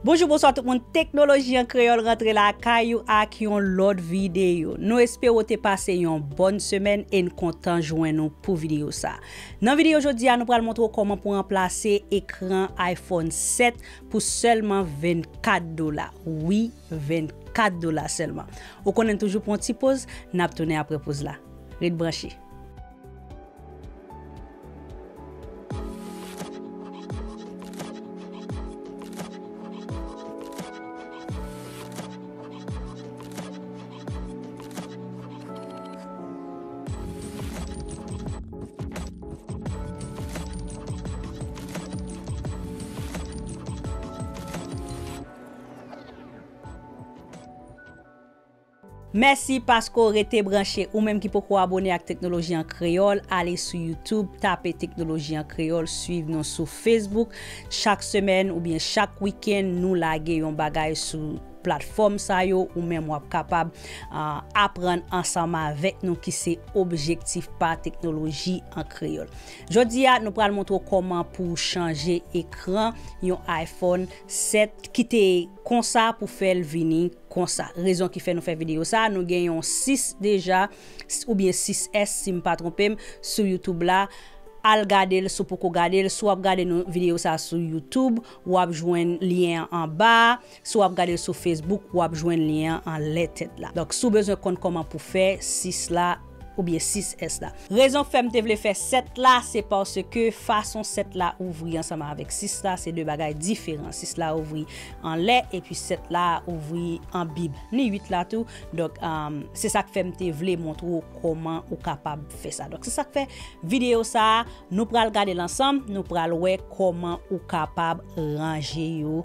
Bonjou bonswa tout moun teknoloji an kreyòl rantre lakay ou ak yon lòt videyo nou espere ou te pase yon bòn semèn e n kontan jwenn ou pou videyo sa nan videyo jodi a nou pral montre ou kòman pou ranplase ekran iphone 7 pou sèlman 24 dola wi 24 dola sèlman. Ou konnen toujou pran yon ti poz, n ap tounen apre poz la. Ret branche. Mèsi paske w rete branche ou menm ki poko abone ak Teknoloji an Kreyòl ale sou YouTube tape Teknoloji an Kreyòl swiv nou sou Facebook chak semèn oubyen chak wikenn nou lage yon bagay sou platfòm sa yo ou menm wap kapab aprann ansanm avèk nou ki se objektif pa Teknoloji an Kreyòl. Jodi a nou pral montre w kòman pou w chanje ekran yon iPhone 7 kite konsa pou fèl vini konsa rezon ki fè nou fè video sa nou gen yon 6 deja oubyen 6S sim pa tronpem sou YouTube la al gadel si w poko gadel si wap gade nou video sa sou YouTube wap jwenn lyen an anba a si wap gadel sou Facebook wap jwenn lyen an anlè tèt la donk si w bezwen konn kòman pou fè 6 la. Ou byen 6 S la. Rezon fè m te vle fè 7 la, se paske fason 7 la ouvri ansanm avèk 6 la, se 2 bagay diferan. 6 la ouvri anlè, epi 7 la ouvri an bib. Ni 8 la tou. Donk, se sa k fè m te vle montre w kòman ou kapab fè sa. Donk, se sa k fè videyo sa a, nou pral gade l ansanm, nou pral wè kòman ou kapab ranje yo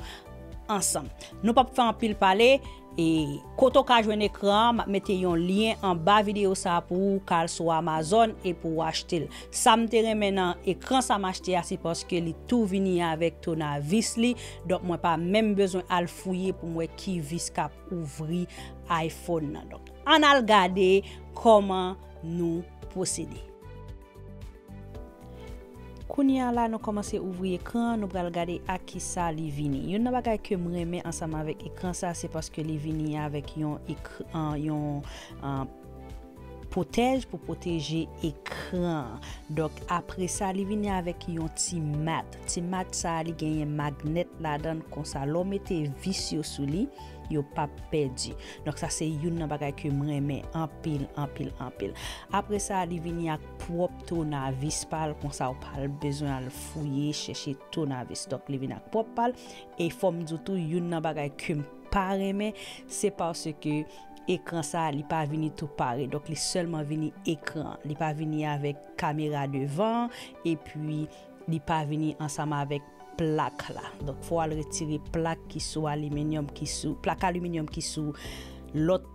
ansanm. Nou p ap fè anpil pale. E kote ou ka jwenn ekran an, map mete yon lyen anba video sa pou ou ka al sou Amazon e pou ou achte l. Sa m te renmen nan ekran sa m achte a se paske li tou vini avèk tounavis li, donk mwen pa menm bezwen al fouye pou m wè ki vis kap ouvri iPhone nan. Donk ann al gade kòman nou pwosede. Kounye a la nou kòmanse ouvri ekran an nou pral gade ak kisa li vini. Youn nan bagay kem renmen ansanm avèk ekran sa se paske li vini avèk yon yon pwotèj pou pwoteje ekran an. Donk apresa li vini avèk yon ti mat. Ti mat sa li genyen magnèt ladan konsa lè w mete vis yo sou li. yo pap pèdi donk sa se youn nan bagay ke m renmen anpil anpil anpil apre sa li vini ak pwòp tounavis pa l konsa ou pa bezwen al fouye chèche tounavis donk li vini ak pwòp pa l e fò m di w tou youn nan bagay ke m pa renmen se paske ekran sa li pa vini tou pare donk li sèlman vini ekran li pa vini avèk kamera devan epi li pa vini ansanm avèk. plak la. Donk fò al retire plak ki sou aliminyòm ki sou, plak aliminyòm ki sou lòt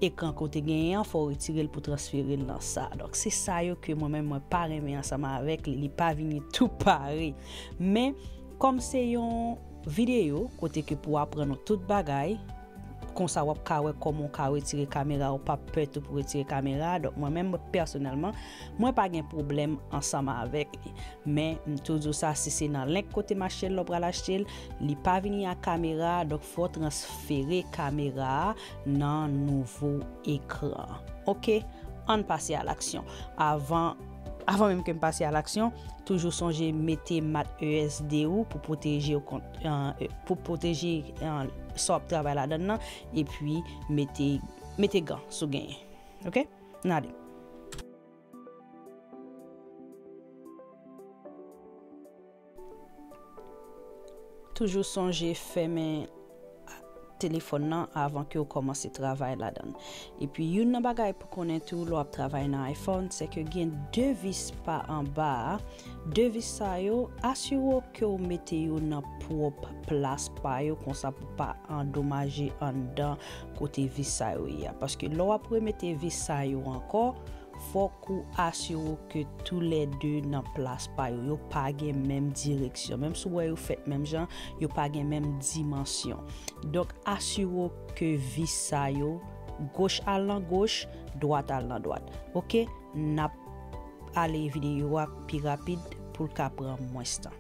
ekran ke w te genyen an, fò w retire l pou transfere l nan sa a. Donk se sa yo ke mwen menm mwen pa renmen ansanm avèk li, li pa vini tou pare. Men, kòm se yon videyo kote ke pou aprann ou tout bagay, konsa w ap ka wè kòman w ka retire kamera, ou p ap pè tou pou retire kamera a. Donk mwen menm pèsonèlman, Mwen pa gen pwoblèm ansanm avèk li. Men, m toujou sa si se nan link kote machnn lan w pral achte l, li pa vini ak kamera a, donk fò w transfere kamera a nan nouvo ekran an. Ok, ann pase a laksyon. Avan, avan menm ke m pase a laksyon, toujou sonje mete mat ESD ou pou pwoteje w kont, pou pwoteje sa w ap travay ladann nan, epi mete, mete gan si w genyen. Ok. Nade. Toujou sonje fèmen telefòn nan avan ke ou kòmanse travay ladan l. Epi youn nan bagay pou konnen tou lè w ap travay nan iPhone se ke gen 2 vis pa anba a, 2 vis sa yo asire w ke ou mete yo nan pwòp plas pa yo konsa pou pa andomaje anndan kote vis sa yo ye a paske lè w ap remete vis sa yo ankò fòk ou asire w ke tou lè 2 nan plas pa yo yo pa gen menm direksyon menm si w wè yo fèt menm jan yo pa gen menm dimansyon donk asire w ke vis sa yo goch al nan goch dwat al nan dwat ok n ap ale videyo a pi rapid pou l ka pran mwens tan.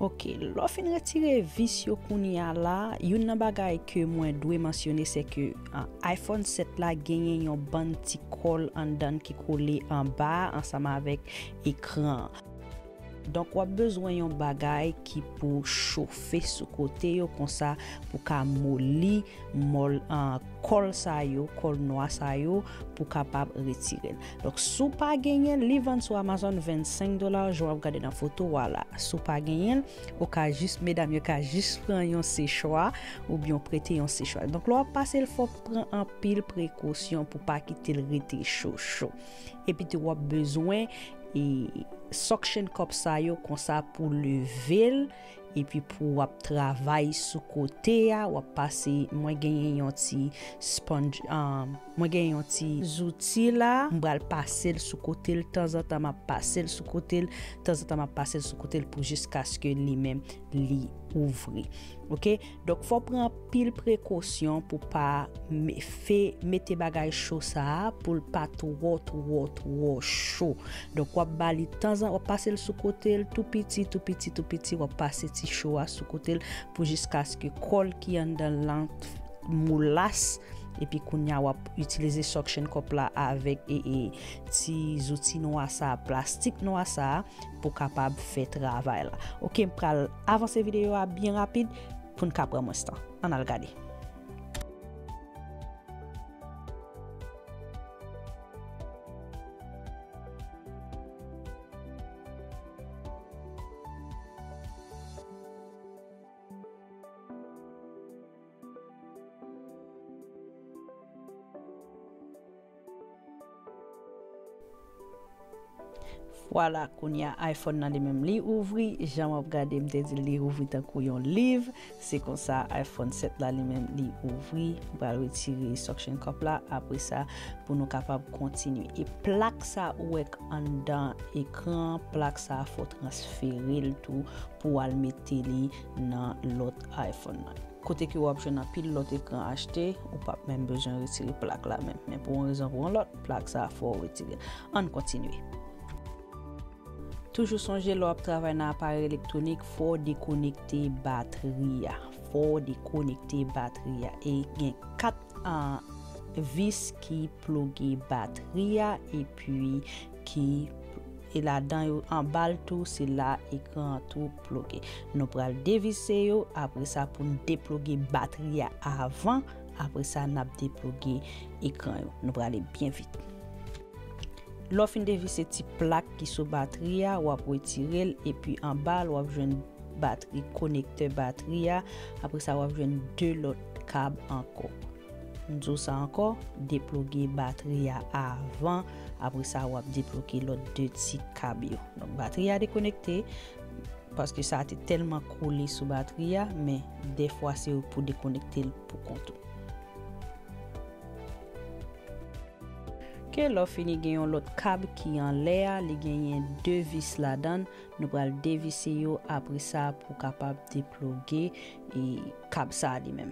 Ok, lò fin retire vis yo kounye a la, youn nan bagay ke mwen dwe mansyone se ke iPhone 7 la genyen yon bann ti kòl anndan ki kole anba ansanm avèk ekran. Donk wap bezwen yon bagay ki pou chofe sou kote yo konsa pou ka moli mòl kòl sa yo kòl nwa sa yo pou kapab retirel donk si w pa genyenl li vann sou amazon 25 dola jan wap gade nan foto wa la si w pa genyenl ou ka jis medam yo ka jis pran yon sechwa oubyen w prete yon sechwa donk lè wap pasel fòk pran anpil prekosyon pou pa kitel rete cho cho. Epitou wap bezwen suction cup sa yo konsa pou level epi pou wap travay sou kote a wap pase mwen genyen yon ti sponge mwen genyen yon ti zouti la m pral pasel sou kotel tanzantan map pasel sou kotel tanzantan map pasel sou kotel pou jiskaske li menm li ouvri ok. Donk fò pran anpil prekosyon pou pa fe mete bagay cho sa a pou l pa twò twò twò cho. Donk wap ba li tanzan wap pase l sou kote l tou piti tou piti tou piti wap pase ti cho a sou kote l pou jiskaske kòl ki anndan l lan molas epi kounya wap itilize suction cup la avèk ti zouti nwa sa a plastik nwa sa a. pou kapab fè travay la ok m pral avanse videyo a byen rapid pou n ka pran mwens tan ann al gade. Vwala kounya iPhone nan li menm li ouvri jan wap gade m te dil li ouvri tankou yon liv se konsa iPhone 7 la li menm li ouvri m pral retire suction cup la apresa pou nou kapab kontinye e plak sa ou wè k anndan ekran an plak sa fò transferel tou pou al mete li nan lòt iPhone nan. Kote ke wap jwenn anpil lòt ekran HT, ou pap menm bezwen retire plak la menm. Men pou yon rezon pou yon lòt, plak sa fò ou retire l. Ann kontinye. Toujou sonje lè wap travay nan aparèy elektwonik, fò w dekonekte batri a. Fò w dekonekte batri a. E gen 4 vis ki ploge batri a epi ki e ladan yo anba l tou se la ekran an tou. ploge. Nou pral devise yo apresa poun deploge batri ya avan apresa nap deploge ekran yo. Nou prale byen vit. Lè w fin devise ti plak ki sou batri ya wap retire l epi anba l wap jwenn batri konektè batri ya apresa wap jwenn 2 lòt kab ankò. M di w sa ankò, deploge batri a avan, apre sa w ap deploge lòt 2 ti kab yo. Donk batri a dekonekte, paske sa te tèlman kole sou batri a, men dèfwa se ou pou dekonekte l pou kont ou. Ke lè w fini gen yon lòt kab ki anlè a, li genyen 2 vis ladan l, nou pral devise yo apre sa pou w kapab deploge kab sa li menm.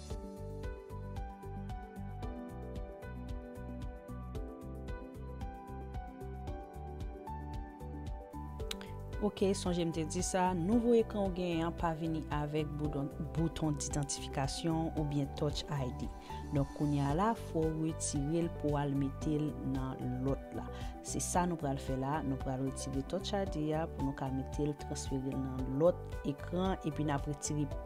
Ok, sonje m te di sa, nouvo ekran ou genyen an pa vini avèk bouton d'idantifikasyon ou byen touch ID. Donk kounye a la, fò ou retire l pou al mete l nan lòt la. Se sa nou pral fè la, nou pral retire touch ID a pou nou ka mete l, transfere l nan lòt ekran epi n ap retire.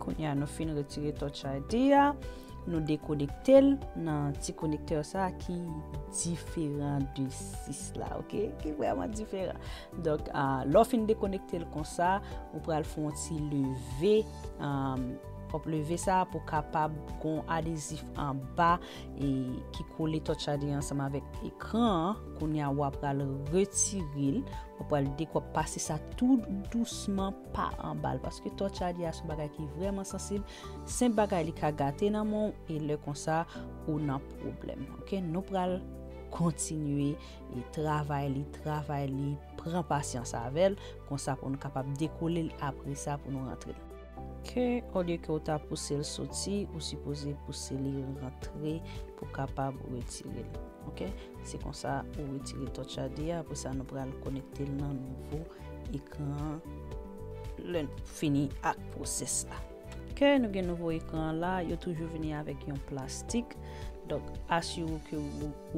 Kounye a nou fin retire touch ID a, nou dekonekte l nan ti konektè sa ki diferan de 6 la, ok, ki vreman diferan. Donk, lò fin dekonekte l konsa, ou pral fon ti leve, pop leve sa pou kapab kon adezif anba e ki kole touch ID ansanm avèk ekran an. Kounya wa pral retirel, wa pral dek wa pase sa tout dousman pa anbal. Paske touch ID a son bagay ki vreman sansib. Senp bagay li ka gate nan menw e lè konsa ou nan pwoblem. Ok nou pral kontinye e travay li, travay li, pran pasyans avel. Konsa pou nou kapab dekolel apresa pou nou rantrel. Ke olye ke ou ta pouse l soti ou sipoze pouse li rantre pou kapab retire l ok se konsa ou retire touch id a apre sa nou pral konekte l nan nouvo ekran an lè n fini ak pwosès la ke nou gen nouvo ekran an la yo toujou vini avèk yon plastik donk asire w ke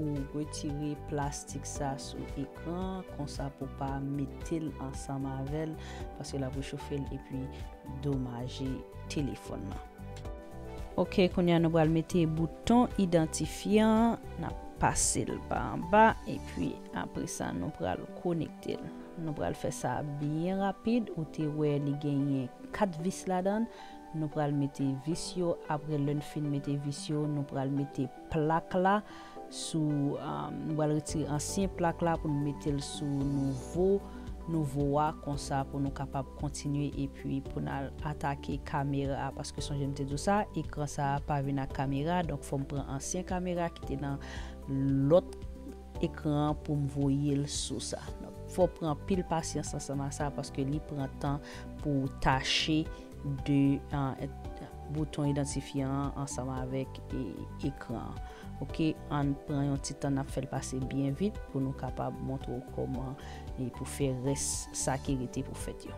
ou retire plastik sa sou ekran konsa pou pa mete l ansanm avè l paske lap rechofe l epi domaje telefòn nan. Ok kounye a nou pral mete bouton idantifyan an nap pase l pa anba epi apresa nou pral konekte l nou pral fè sa byen rapid ou te wè li genyen 4 vis ladan l nou pral mete vis yo apre lè n fin mete vis yo nou pral mete plak la sou nou pral retire ansyen plak la pou nou mete l sou nouvo nouvo a konsa pou nou kapab kontinye epi pou n al atake kamera a paske sonje m te di w sa ekran sa a pa vin ak kamera donk fò m pran ansyen kamera ki te nan lòt ekran an pou m voye l sou sa. Fò w pran anpil pasyans ansanm ak sa paske li pran tan pou w tache 2 bouton idantifyan an ansanm avèk ekran an. Ok, ann pran yon ti tan n ap fè l pase byen vit pou nou kapab montre w kòman pou fè rès sa ki rete pou fèt yo.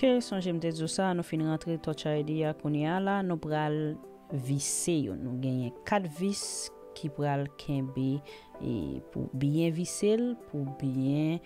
Ke sonje m te di w sa, nou fin rantre Touch ID a kounye a la, nou pral vise yo. Nou genyen 4 vis ki pral kenbe pou byen vise l pou byen.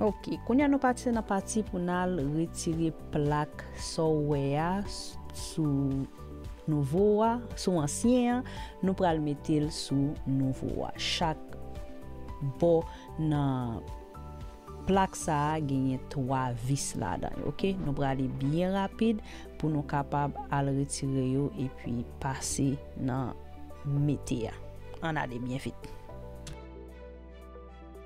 Ok kounya nou pase nan pati pou nal retire plak sa w wè a sou nouvo a sou ansyen an nou pral metel sou nouvo a chak bò nan plak sa genyen 3 vis ladan yo ok nou prale byen rapid pou nou kapab al retire yo epi pase nan mete a an ale byen vit.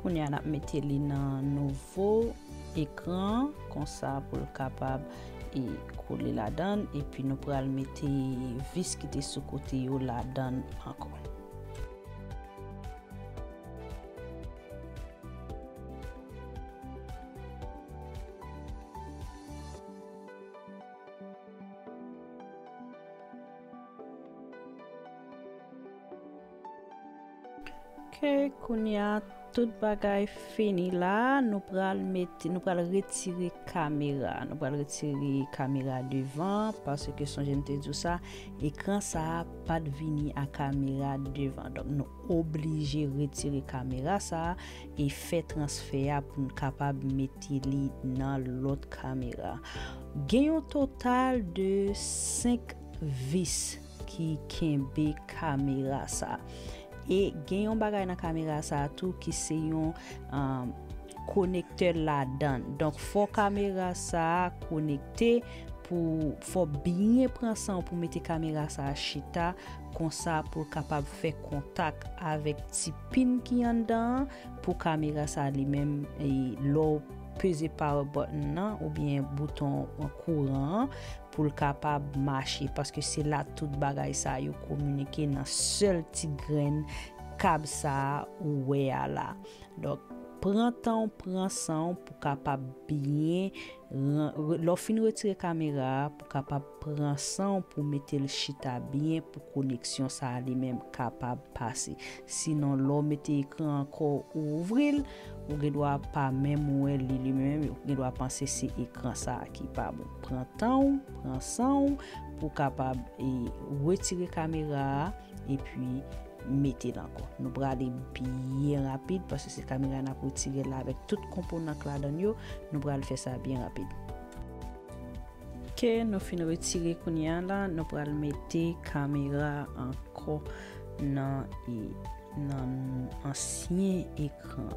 Kounye a nap mete li nan nouvo ekran konsa poul kapab e kole ladann epi nou pral mete vis ki te sou kote yo ladann ankò. Ok kounya tout bagay fini la nou pral mete nou pral retire kamera nou pral retire kamera devan paske sonje m te di w sa ekran sa pat vini a kamera devan donk nou oblije retire kamera sa e fè transfè a pou n kapab mete li nan lòt kamera gen yon total de 5 vis ki kenbe kamera sa e gen yon bagay nan kamera sa tou ki se yon konektè ladan donk fò kamera sa konekte pou fò byen pran san pou mete kamera sa chita konsa poul kapab fè kontak avèk ti pin ki anndan pou kamera sa li menm lèw peze power button nan oubyen bouton kouran an pou l kapab mache paske se la tout bagay sa yo kominike nan sèl ti grenn kab sa a ou wè a la donk pran tan w pran san w pou kapab byen lè w fin retire kamera a pou kapab pran san w pou mete l chita byen pou koneksyon sa a li menm kapab pase sinon lè w mete ekran an kò ou ouvri l Ou gen dwa pa menm wè li li menm ou gen dwa panse se ekran sa a ki pa bon. Pran tan ou, pran san ou pou kapab e retire kamera a epi mete l ankò. Nou prale byen rapid paske se kamera n ap retire l la avèk tout konponan k ladan l yo. Nou pral fè sa byen rapid. Ok, nou fin retire kounye a la. Nou pral mete kamera ankò nan e. nan ansyen ekran.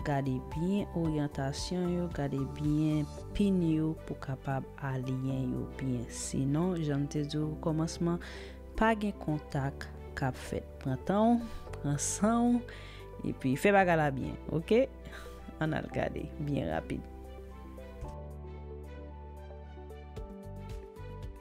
Gade byen oryantasyon yo, gade byen pin yo pou kapab aliyen yo byen. Sinon, jan m te di w okòmansman, pa gen kontak k ap fèt. Pran tan w, pran san w, epi fè bagay la byen. Ok? An n al gade byen rapid.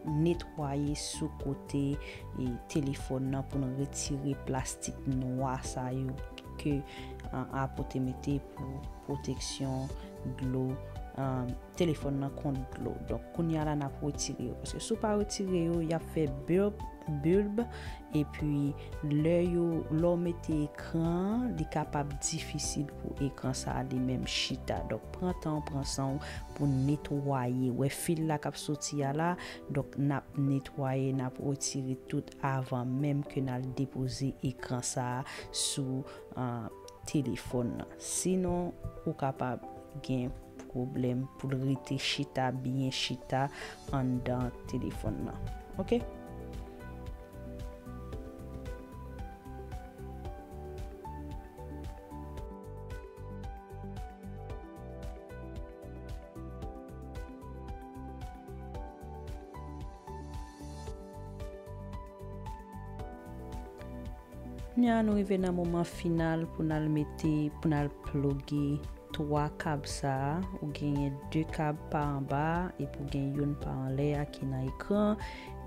Netwaye sou kote telefòn nan pou n retire plastik nwa sa yo ke Apo te mete pou pwoteksyon dlo telefòn nan kont dlo. Donk kounya la n ap retire yo paske si w pa retire yo y ap fè bulb, bulb, epi lè yo lè w mete ekran an li kapab difisil pou ekran sa li menm chita. Donk pran tan w pran san w. pou n netwaye wè fil la kap soti a la donk nap netwaye nap retire tout avan menm ke nal depoze ekran sa sou telefòn nan sinon ou kapab gen pwoblèm poul rete chita byen chita anndan telefòn nan ok. Kounya nou rive nan moman final pou nal mete pou nal ploge 3 kab sa ou genyen 2 kab pa anba epi ou gen youn pa anlè a ki nan ekran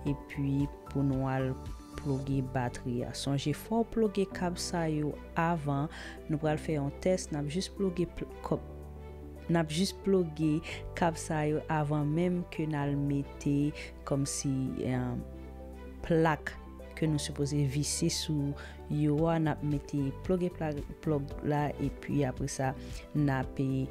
epi pou nou al Ploge batri a. Sonje fò w ploge kab sa yo avan, nou pral fè yon tès nap jis ploge nap jis ploge kab sa yo avan menm ke nal mete kòmsi plak ke nou sipoze vise sou yo a nap mete ploge plòg la epi apresa nape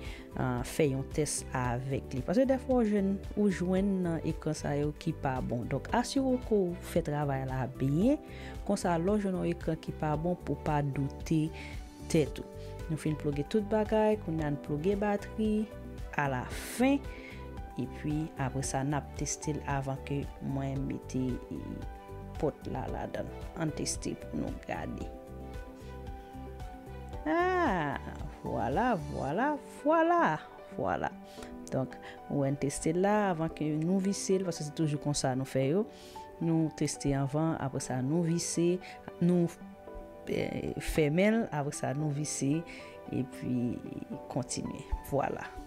fè yon tès avèk li paske dèfwa ou jwenn ou jwenn nan ekran sa yo ki pa bon donk asire w ke w fè travay la byen konsa lè w jwenn yon ekran ki pa bon pou w pa doute tèt ou nou fin ploge tout bagay kounye a n ploge batri a la fen epi apre sa n ap teste l avan ke mwen mete pòt la ladan l an n teste pou nou gade. Aa, vwala, vwala, vwala, vwala. Donk, ou wè n teste l la avan ke nou vise l, paske se toujou konsa nou fè yo. Nou teste anvan, apre sa nou vise, nou fèmen l, apre sa nou vise, epi kontinye. Vwala.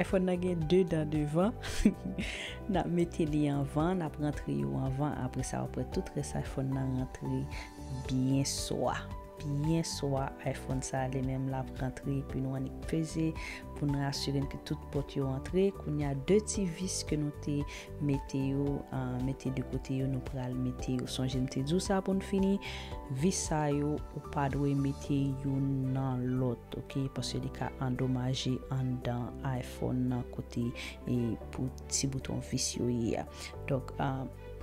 Iphone nan gen 2 dan devan nap mete li anvan nap rantre yo anvan apre sa apre tout rès iphone nan rantre byen swa byen swa iphone sa li menm lap rantre epi nou annik peze pou nou asire n ke tout pòt yo antre kounya 2 ti vis ke nou te Mete yo, mete de kote yo nou pral mete yo. Sonje m te di w sa pou n fini, vis sa yo ou pa dwe mete youn nan lòt ok, paske li ka andomaje anndan iPhone nan kote pou ti bouton vis yo ye a. Donk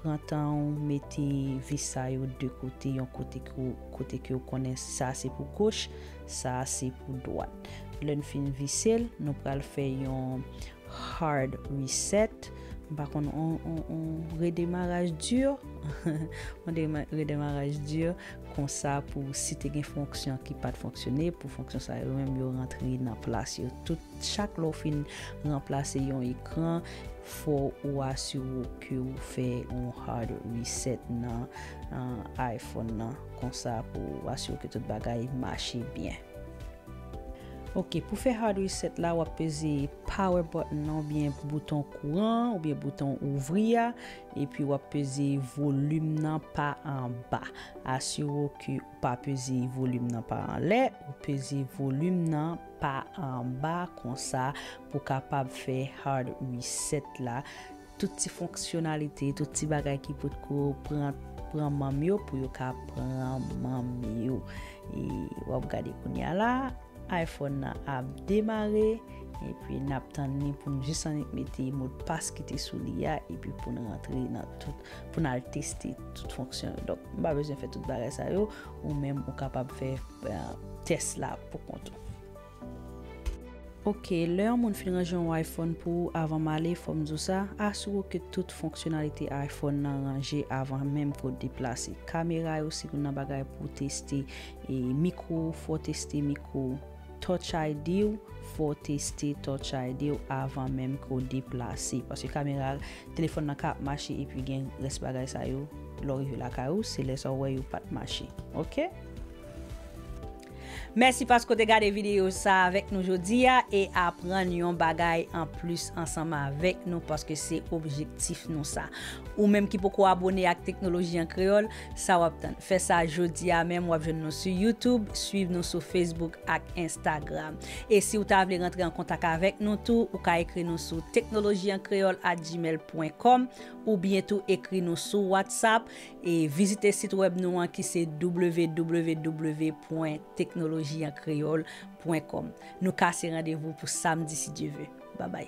pran tan w mete vis sa yo de kote, yon kote ke w kote ke w konnen sa se pou goch, sa se pou dwat. Lè n fin vise l, nou pral fè yon Hard reset, m pa konn on redemaraj dur, on redemaraj dur konsa pou si te gen fonksyon ki pat fonksyone pou fonksyon sa yo menm yo rantre nan plas yo tout. Chak lè w fin ranplase yon ekran fò ou asire w ke ou fè on hard reset nan iPhone nan konsa pou asire w ke tout bagay mache byen. Ok pou fè hard reset la wap peze power button nan oubyen bouton kouran an oubyen bouton ouvri a epi wap peze volim nan pa anba asire w ke ou pa peze volim nan pa anlè ou peze volim nan pa anba konsa pou kapab fè hard reset la. Tout ti fonksyonalite, tout ti bagay ki pot ko pran pran manm yo pou yo ka pran manm yo. E wap gade kounye a la, iPhone nan ap demare, epi nap tann li pou nou jis annik mete modpas ki te sou li a, epi pou nou rantre nan tout, pou nou al teste tout fonksyon yo. Donk m pa bezwen fè tout bagay sa yo, ou menm ou kapab fè tès la pou kont ou. Ok, lè yon moun fin ranje yon iPhone pou ou avan male fòm diw sa, asire w ke tout fonksyonalite iPhone nan ranje avan menm ke w deplase. Kamera yo se youn nan bagay pou w teste, e mikro w fò w teste mikro w, Touch ID w fò w teste Touch ID w avan menm ke w deplase. Paske kamera telefòn nan ka ap mache epi gen rès bagay sa yo lè w rive lakay ou se lè sa w wè yo pat mache ok. Mèsi paske w te gade videyo sa a avèk nou jodi a e aprann yon bagay anplis ansanm avèk nou paske se objektif nou sa. Ou menm ki poko abone ak Teknoloji an Kreyòl, sa w ap tann? Fè sa jodi a menm, w ap jwenn nou sou YouTube, suiv nou sou Facebook ak Instagram. E si w ta vle rantre an kontak avèk nou tou, ou ka ekri nou sou technologiencreole@gmail.com oubyen tou ekri nou sou WhatsApp E vizite sit wèb nou an ki se www.teknolojiankreol.com Nou kase randevou pou samdi si Dye ve. Babay.